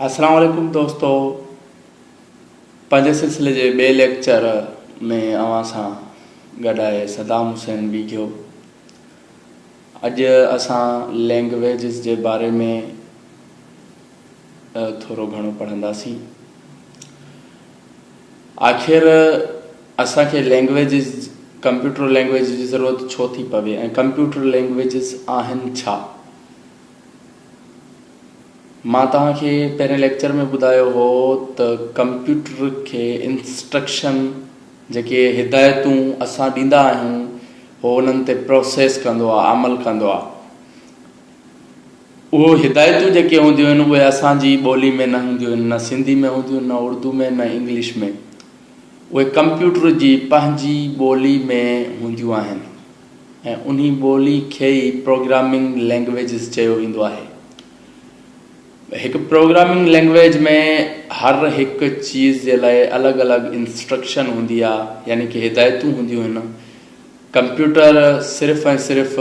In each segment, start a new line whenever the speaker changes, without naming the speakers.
السلام عليڪم دوستو پنهنجي سلسلي جي ٻئي ليڪچر ۾ اوهان سان گڏ آهي صدام حسين ويگهيو اڄ اسان لينگويجز جي باري ۾ ٿورو گهڻو پڙهنداسين. آخر اسان کي لينگويجز ڪمپيوٽر لينگويجز جي ضرورت ڇو ٿي پوي ۽ ڪمپيوٽر لينگويجز آهن ڇا؟ مان توهان کي پهرين ليڪچر ۾ ٻڌايو هو ته ڪمپيوٽر کي انسٽرڪشن جيڪي هدايتون اسان ڏيندا آهيون هو انهن تي پروسيس ڪندو آهي عمل ڪندو آهي. اهي هدايتون جيڪي هونديون آهن اهي اسان جي ٻولي ۾ نه هونديون آهن نه سنڌي ۾ هونديون آهن نه اردو ۾ نه انگلش ۾ اهي ڪمپيوٽر جي پنهنجي ٻولي ۾ هونديون آهن ۽ انهي ٻولي کي ئي پروگرامنگ لينگويجز چيو ويندو آهي هڪ پروگرامنگ لينگويج ۾ هر هڪ چيز جي لاء الڳ الڳ انسٽرڪشن هوندي آهي يعني ڪي هدايتون هونديون آهن ڪمپيوٽر صرف ۽ صرف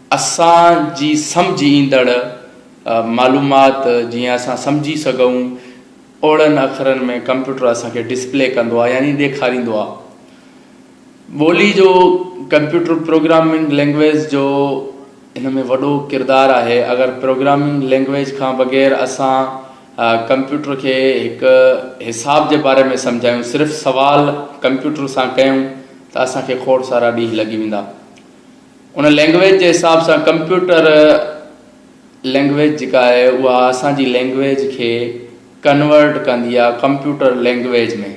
اسان جي سمجهه ايندڙ معلومات جيئن اسان سمجهي سگهون اوڙن اکرن ۾ ڪمپيوٽر اسان کي ڊسپلي ڪندو آهي يعني ڏيکاريندو آهي. ٻولي جو ڪمپيوٽر پروگرامنگ لينگويز جو ان ۾ وڏو ڪردار آهي اگر پروگرامنگ لينگويز کان بغير اسان ڪمپيوٽر کي هڪ حساب جي باري ۾ سمجهايون صرف سوال ڪمپيوٽر سان ڪيون ته اسان کي کوڙ سارا ڏينهن لڳي ويندا. ان لينگويج جي حساب سان ڪمپيوٽر لينگويج جيڪا آهي اها اسان جي لينگويج کي ڪنورٽ ڪندي آهي ڪمپيوٽر لينگويج ۾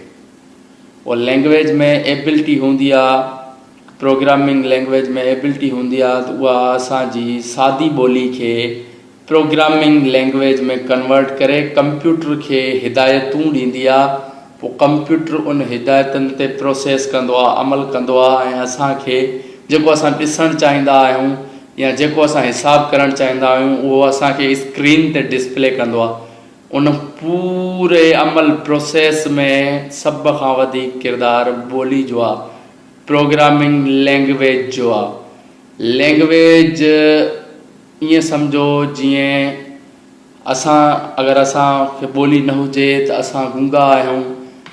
او لينگويج ۾ ايبلٽي هوندي آهي پروگرامنگ لينگويج ۾ ايبلٽي هوندي آهي ته اها اسان جي سادي ٻولي کي پروگرامنگ لينگويج ۾ ڪنورٽ ڪري ڪمپيوٽر کي هدايتون ڏيندي آ پو ڪمپيوٽر ان هدايتن تي پروسيس ڪندو آ عمل ڪندو آ ۽ اسان کي جيڪو اسان ڏسڻ چاهيندا آهيون يا جيڪو اسان حساب ڪرڻ چاهيندا آهيون اهو اسان کي اسڪرين تي ڊسپلي ڪندو آ ان پوري عمل پروسيس ۾ سڀ کان وڌيڪ ڪردار ٻولي جو آ پروگرامنگ لينگويج جو آ لينگويج ائين سمجهو جيئن اسان اگر اسان کي ٻولي نه هجي ته اسان گونگا آهيون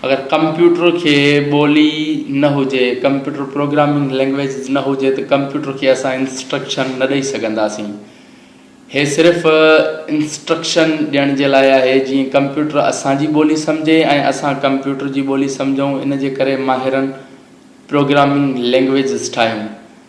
اگر ڪمپيوٽر کي ٻولي نه هجي ڪمپيوٽر پروگرامنگ لينگويج نه هجي ته ڪمپيوٽر کي اسان انسٽرڪشن نه ڏئي سگهنداسين هي صرف انسٽرڪشن ڏيڻ جي لاء آهي جيئن ڪمپيوٽر اسان جي ٻولي سمجهي ۽ اسان ڪمپيوٽر جي ٻولي سمجهون ان جي ڪري ماهرن پروگرامنگ لينگويجز ٺاهيون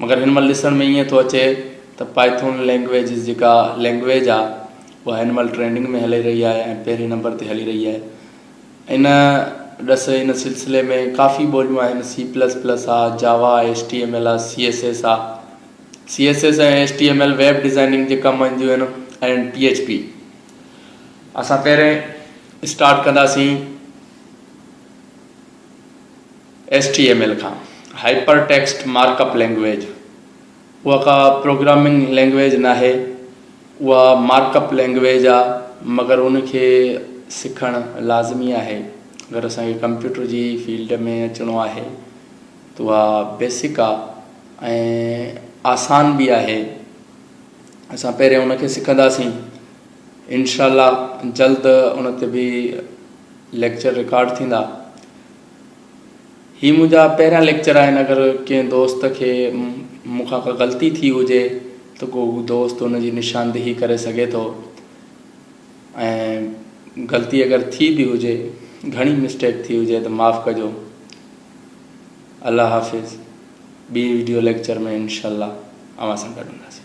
مگر هن مهل ڏسڻ ۾ ائين ٿو اچي ته پائٿون لينگويج جيڪا لينگويج آ اها هن مهل ٽرينڊنگ ۾ هلي رهي آهي ۽ پهرين نمبر تي هلي رهي آهي ان ڏس ان سلسلي ۾ ڪافي ٻوليون آهن سي پلس پلس آ Java S T M L آ سي ايس ايس آ C S S ۽ S T M L web designing جي ڪم اينديون آهن ۽ پي ايچ پي اسان پهرين اسٽارٽ ڪنداسين ايس ٽي ايم ايل کان، hyper text mark up language, اها ڪا پروگرامنگ لينگويج ناهي، اها مارڪ اپ لينگويج آ، مگر ان کي سکڻ لازمي آهي، اگر اسان کي ڪمپيوٽر جي فيلڊ ۾ اچڻو آهي ته اها بيسڪ آ ۽ آسان به آهي، اسان پهرين ان کي سکنداسين، انشاء الله جلد ان تي به ليڪچر رڪارڊ ٿيندا. هي منهنجا پهريان ليڪچر آهن اگر ڪنهن دوست کي مون کان ڪا غلطي ٿي هجي ته ڪو هو دوست ان جي نشاندهي ڪري سگهي ٿو ۽ غلطي اگر ٿي به هجي گهڻي مسٽيڪ ٿي هجي ته معاف ڪجو الله حافظ ٻي ويڊيو ليڪچر ۾ انشاء الله اوهان سان گڏ هونداسين